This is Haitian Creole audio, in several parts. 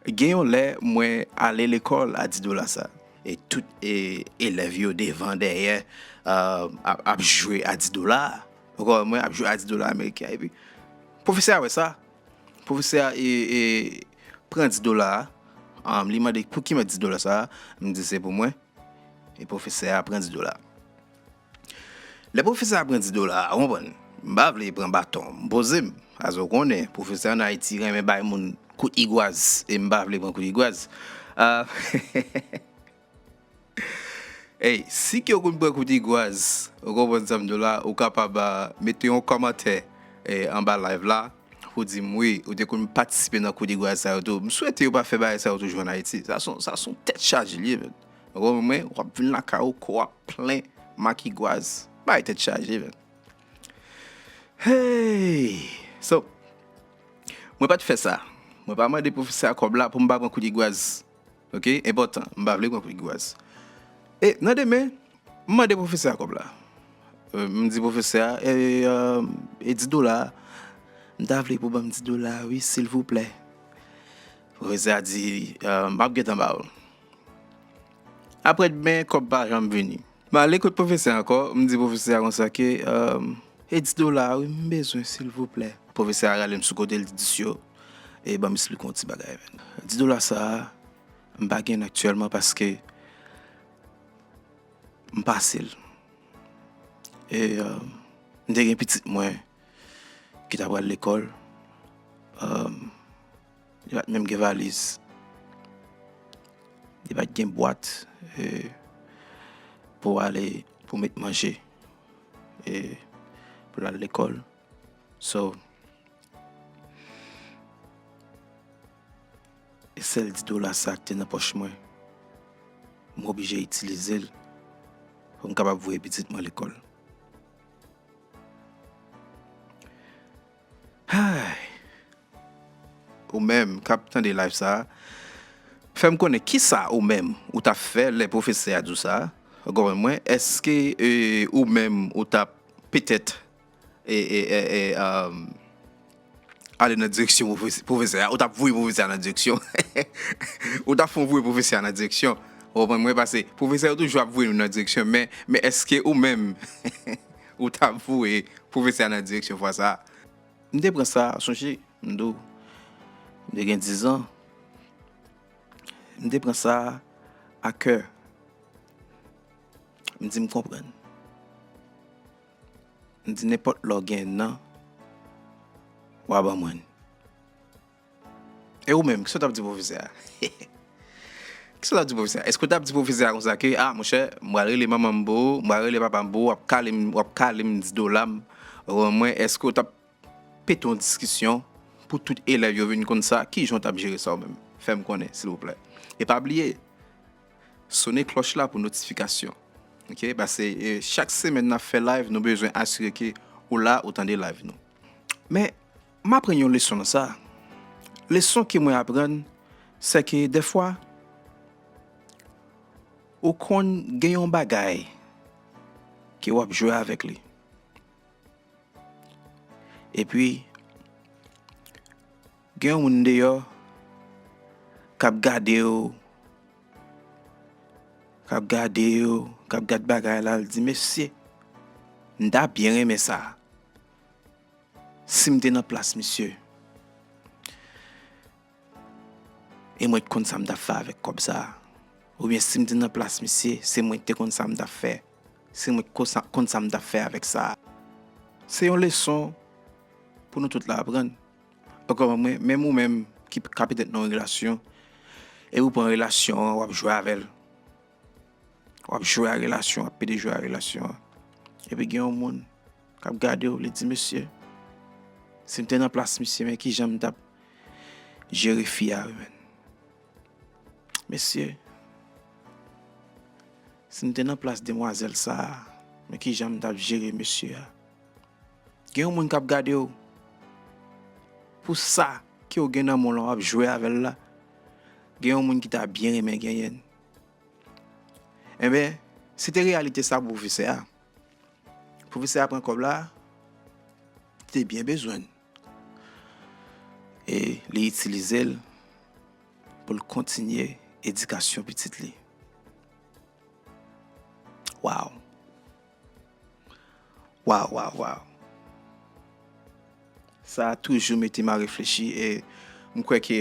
Gen yon lè mwen ale lekòl a 10 dola sa. E tout elèv yo devan dèyè ap jwe a 10 dola a. Ou konprann mwen? Ap jwe a 10 dola ameriken an. Epi pwofesè a wè sa. Pwofesè a pran 10 dola a. Li mande pou ki mèt 10 dola sa a. M di se pou mwen. E pwofesè a pran 10 dola a. Lè pwofesè a pran 10 dola a ou konprann m pa vle pran baton m poze m paske ou konnen pwofesè an Ayiti renmen bay moun kout igwaz e m pa vle pran kout igwaz aah Hey si ke ou konn pran kout igwaz ou konprann sa m di w la ou kapab mete yon kòmantè anba live la pou di m wi ou te konn patisipe nan kout igwaz sa yo tou m swete yo pa fè bagay sa yo toujou an Ayiti sa son tèt chaje l ye menn. Romain wap vin lakay ou kò a plen makigwaz bay tèt chaje menn heyy so mwen pat fè sa mwen pa mande pwofesè a kòb la pou m pa pran kout igwaz ok enpòtan m pa vle pran kout igwaz e nan demen m mande pwofesè a kòb la m di pwofesè a e 10 dola a m ta vle pou banm 10 dola a wi silvouplè pwofesè a di map gentan ba ou l Aprè dmen kòb pa janm vini. M ale kot pwofesè ankò, m di pwofesè a konsa ke, E 10 dola a wi m bezwen silvouplè. Pwofesè a rale m sou kote l di 10 yo, e ban m esplike w yon ti bagay. 10 dola sa a, m pa gen l aktyèlman paske m pase l. E m te gen pitit mwen ki ta pral lekòl. Li pat menm gen valiz. Li pat gen bwat pou ale pou met manje e pou lal lekòl. So, e sèl 10 dola sa ki te nan pòch mwen, m oblije itilize l pou m kapab voye pitit mwen lekòl. Ayy Ou menm kap tande live sa fèm konnen kisa ou menm ou tap fè lè pwofesè a di w sa ou konprann mwen eske ou menm ou tap petèt ale nan direksyon pwofesè a ou tap voye pwofesè a nan direksyon ou tap fon voye pwofesè a nan direksyon ou konprann mwen pase pwofesè yo toujou ap voye nou nan direksyon men eske ou menm. Ou ta voye pwofesè a nan direksyon fwa sa a. M te pran sa, m sonje, m dou. M te gen dizan. M te pran sa a kè. M di m konprann. M di nenpòt lè w gen nan, w a ban mwen. E ou menm, kisa w t ap di pwofesè a? Kisa w t ap di pwofesè a? Èske w t ap di pwofesè a konsa ke, a, monchè, m pral rele manman m pou ou, m pral rele papa m pou ou, w ap kale m, w ap kale m, di dola m, rann mwen, èske w t ap pete yon diskisyon pou tout elèv yo vin konn sa? Ki jan w t ap jere sa ou menm? Fè m konnen, silvouplè. E pa bliye, sone klòch la pou notifikasyon. Ok? Pase chak semèn n ap fè live, nou bezwen asire ke ou la, ou tande live nou. Men. M aprann yon leson nan sa. Leson ke mwen aprann, se ke dèfwa ou konn gen yon bagay ke w ap jwe avèk li. E pi, gen yon moun deyò k ap gade w, k ap gade w, k ap gade bagay la, l di, mesye, m ta byen renmen sa. Sim te nan plas misye e mwen t konn sam tap fè avèk kòb sa oubyen sim te nan plas misye se mwen ki te konn sam tap fè se mwen ki konn sam tap fè avèk sa se yon leson pou nou tout la aprann ankò mwen menm ou menm ki ka petèt nan yon relasyon e ou pran relasyon an wap jwe avèl wap jwe a relasyon wap pede jwe a relasyon epi gen yon moun. kap gade w li di mesye si m te nan plas misye men kijan m tap jere fi a wi menn mesye si m te nan plas demwazèl sa men kijan m tap jere mesye a gen yon moun kap gade w pou sa ke w gen nan men w la wap jwe avè l la gen yon moun ki ta byen renmen genyen l enben se te reyalite sa bwoufesè a Profesè a pran kòb la, li te byen bezwen l. E li itilize l pou l kontinye edikasyon pitit li. Waw! Waw, waw, waw! Sa toujou mete m a reflechi e m kwè ke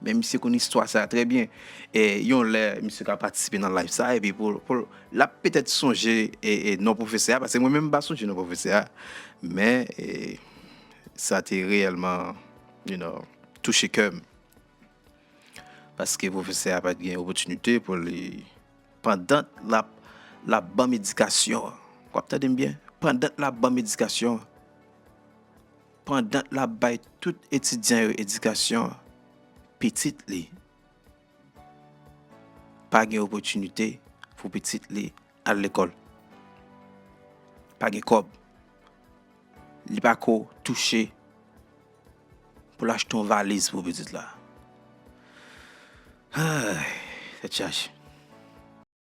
Men misye konn istwa sa trè byen. E yon lè misye ka patisipe nan live sa epi pou l l ap petèt sonje non pwofesè a pase mwen menm m pa sonje non pwofesè a. Men sa te reyèlman you know touche kè m. Paske pwofesè a pa t gen opotinite pou li pandan l ap l ap ban m edikasyon an. W ap tande m byen? Pandan l ap ban m edikasyon an. Pandan l ap bay tout etidyan yo edikasyon, pitit li pa gen opòtinite pou pitit li al lekòl. Pa gen kòb. Li pa ko touche pou l achte yon valiz pou pitit la. Ay! Tèt chaje.